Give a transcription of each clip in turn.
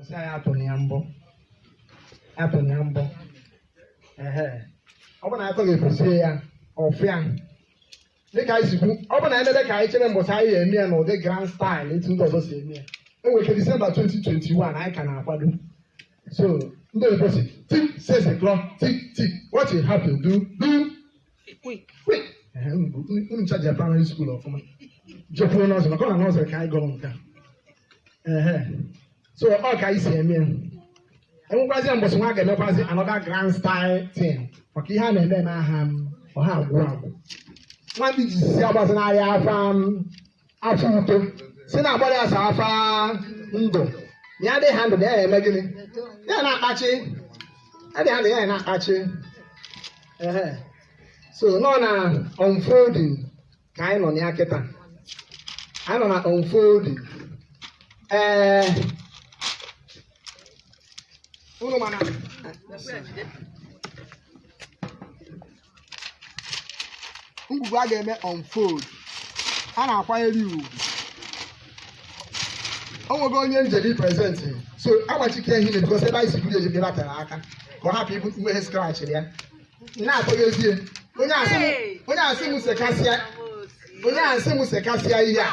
Ọsị anyị atụrụ ya mbọ atụrụ ya mbọ ehe ọ bụ na atọ ga-efusie ya ọfịa dịka anyị si kwu ọ bụ na emebe ka anyị chere mbọsị anyị ga-eme ya n'ụdị grand style etu ndị ọzọ si eme ya e nwere ike December 2021 anyị ka na-akwado so ndị oyibo sị tick says the clock tick tick what you have to do do unu ncha je primary school ọfụma jekwuo nursery maka ọ na nursery ka anyị gụrụ nke a ehe so ọ ka anyị si eme ya enwekwazi mbọsị nwa a ga-emekwazi another grand style thing maka ihe a na-eme na aha m ọha agwụ agwụ nwa ndị ji si agbazị n'ahịa afa m afọ uto si na agbara ya sa afa ndụ ya dị ha ndụ na ya eme gịnị ya na-akpachi ya dị ha ndụ ya na-akpachi ehe so nọ na unfolding ka anyị nọ na ya kịta anyị nọ na unfolding ee unu mana ngwugwu a ga-eme unfold a na-akwanyere ya ugwu o nwego onye e nyere present so agbachike ihe na because ebe anyị si buru eji ebe a tere aka ka ọ hapụ ibu mmehie scratch ya na-atọghezie onye asị m onye asị m sekasịa onye asị m sekasịa ihe a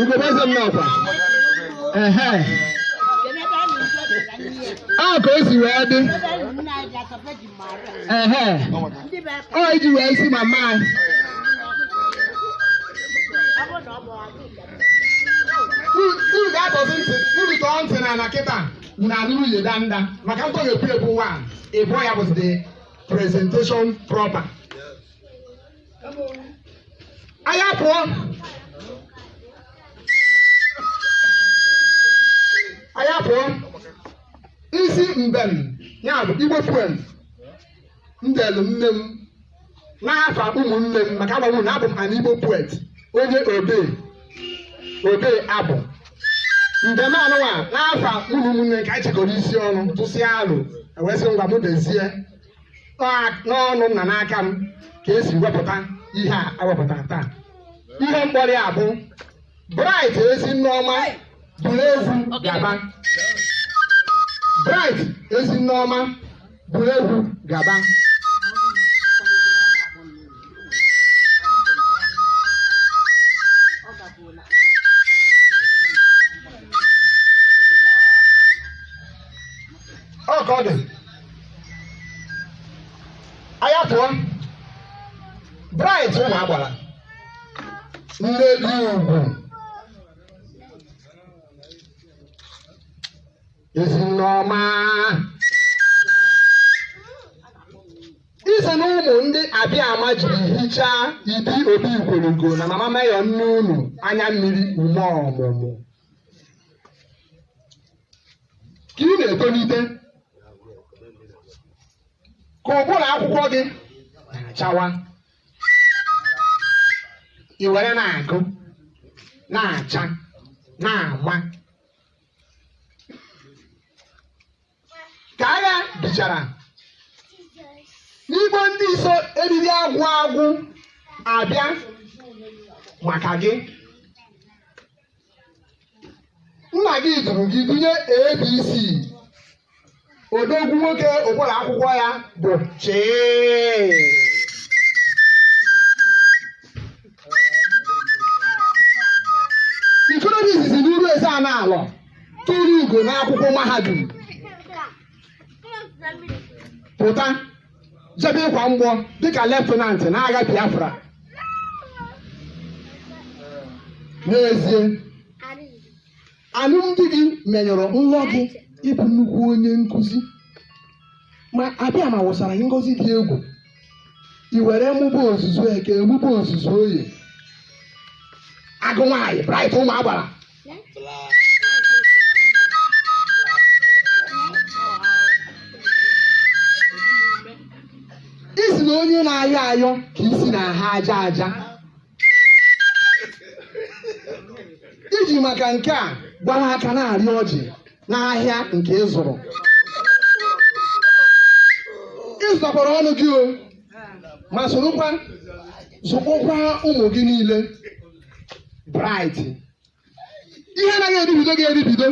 ugogbe eze m n'ọkwa ehe a ka o si wee dị ehe ọ iji wee si mama anyị unu ga-atọzi ntị unu tọọ ntị na ala kịta na anụrụ ude danda maka ntọghepụ egwu nwa ịbụọ ya bụzi the presentation proper anyị apụọ anyị apụọ isi mbem ya bụ Igbo poem m delu nne m n'afa ụmụnne m m ka agwa unu na abụ m an Igbo poet onye odee odee abụ mbem anụwa n'afa ụmụnne m ka anyị chekọrọ isi ọnụ tụsịa alo e wee sị ngwa m dezie n'ọnụ nna n'aka m ka e si wepụta ihe a e wepụtara taa ihe m kpọrọ ya bụ Bright ezi nne ọma buru egwu gaba Bright ezi nne ọma buru egwu gaba ọ ka ọ dị anyị apụọ bright ụmụ agbara nne dị ugwu ezinne ọma i so na ụmụ ndị abịama jiri hichaa ibi obi igwelugo na mama meyọ nne unu anya mmiri ume ọmụmụ ka ị na-etolite ka ụbụrụ akwụkwọ gị na-achawa i were na-agụ na-acha na-ama ka agha bichara n'igbo ndị so eriri agwụ agwụ abịa maka gị nna gị duru gị dunye abc odogwu nwoke ụbụrụ akwụkwọ ya bụ chee ikorobịa izizi n'uruezeanị alọ turu ugo n'akwụkwọ mahadum pụta jebe ịkwa mgbọ dịka leftenant n'agha biafra n'ezie alụmdi gị menyụrụ nlọ gị ịbụ nnukwu onye nkụzi ma abịama wụsara gị ngozi dị egwu i were mụba ozuzu eke mụba ozuzu oye agụ nwaanyị bright ụmụ agbara ị sị na onye na-ayọ ayọ ka isi na-aha aja aja i ji maka nke a gbara aka na-arị ọjị n'ahịa nke ị zụrụ ị zụtakwara ọnụ gị o ma sorokwa zụkpọkwa ụmụ gị niile bright ihe anaghị eribido gị eribido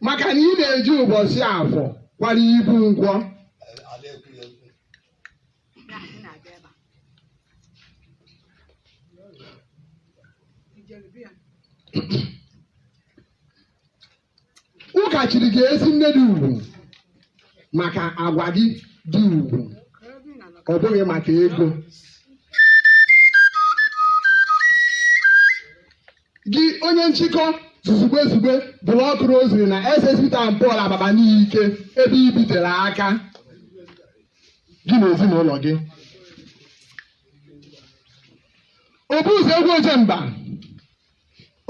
maka na ị na-eji ụbọchị afọ kwara ibu nkwọ Ụka chiri gị ezinne dị ugwu maka agwa gị dị ugwu ọ bụghị maka ego gị onye nchịkọ zuzugbe zugbe block rosary na ss peter and paul abakpa nike ebe i bitere aka gị na ezinụlọ gị obu ụzọ egwu ojemba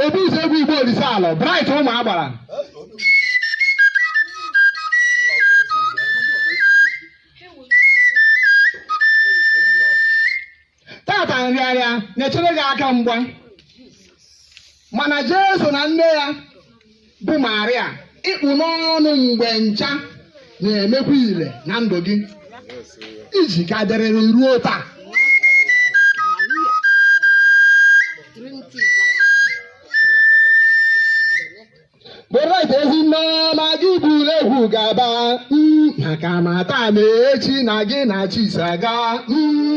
obu ụzọ egwu igbo olise alọ bright ụmụ agbara tata nrịarịa na-echere gị aka mgba mana jesu na nne ya bụ Maria ị kpụ n'ọnụ mgbe ncha na-emekwa ile na ndụ gị i ji ka dịrịrị ruo taa Bright ezi nneọma gị buru egwu gaba mm, maka ma taa ma echi na gị na chi so aga mm,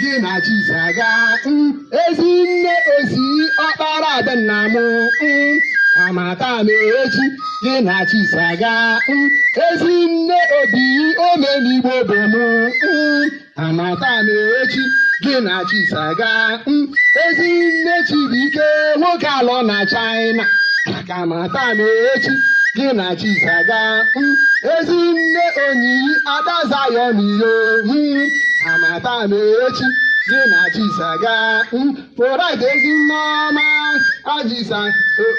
gị na chi so aga mm, ezi nne ozi ọkpara ada nna m mm, ma taa ma echi gị na chi so aga mm, ezi nne obi omenigbo bụ m mm, ma taa ma echi gị na chi so aga mm, ezi nne Chibuike nwoke alọ na China ka ma taa ma echi gị na chi so aga mm, ezi nne onyiyi ada Zion iyo mm, ka ma taa ma echi gị na chi so aga mm, Bright ezi nne ọma ajisa oo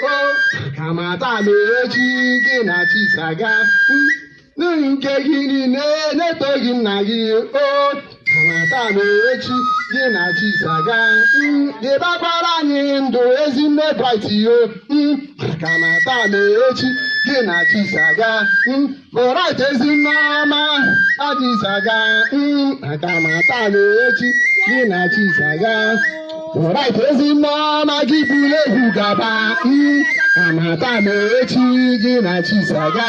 ka ma taa ma echi gị na chi so aga mm, nke gị niile na-eto gị nna gị o ka ma taa ma echi gị na chi so aga dịbakwara anyị ndụ ezi nne Bright yo maka ma taa ma echi gị na chi so aga Bright ezi nne ọma ajisa ga maka ma taa ma echi gị na chi so aga Bright ezi nne ọma gị buru egwu gaba ka ma taa ma echi gị na chi so aga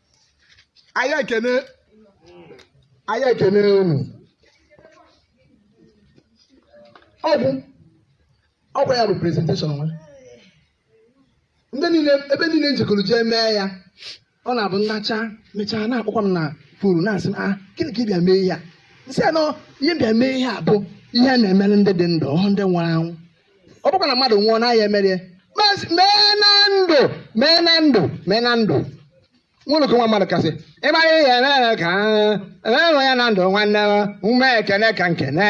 anyị ekene unu ọ bụ ọ bụ ya bụ presentation nwa ndị niile ebe niile m jekọrọ jee mee ya ọ na-abụ m nacha mechaa na-akpọkwa m na phone na-asị m ah gịnị ka ị bịa mee ihe a m sị na ihe m bịa mee ihe a bụ ihe a na-emere ndị dị ndụ ọhụ ndị nwụrụ anwụ ọ bụkwa na mmadụ nwụọ na a ya-emere ya mee na ndụ mee na ndụ mee na ndụ nwụrụ ka nwa mmadụ kasị ịma ihe ya eme ya ka e mee ya na ndụ nwanne m ume ekene ka m kene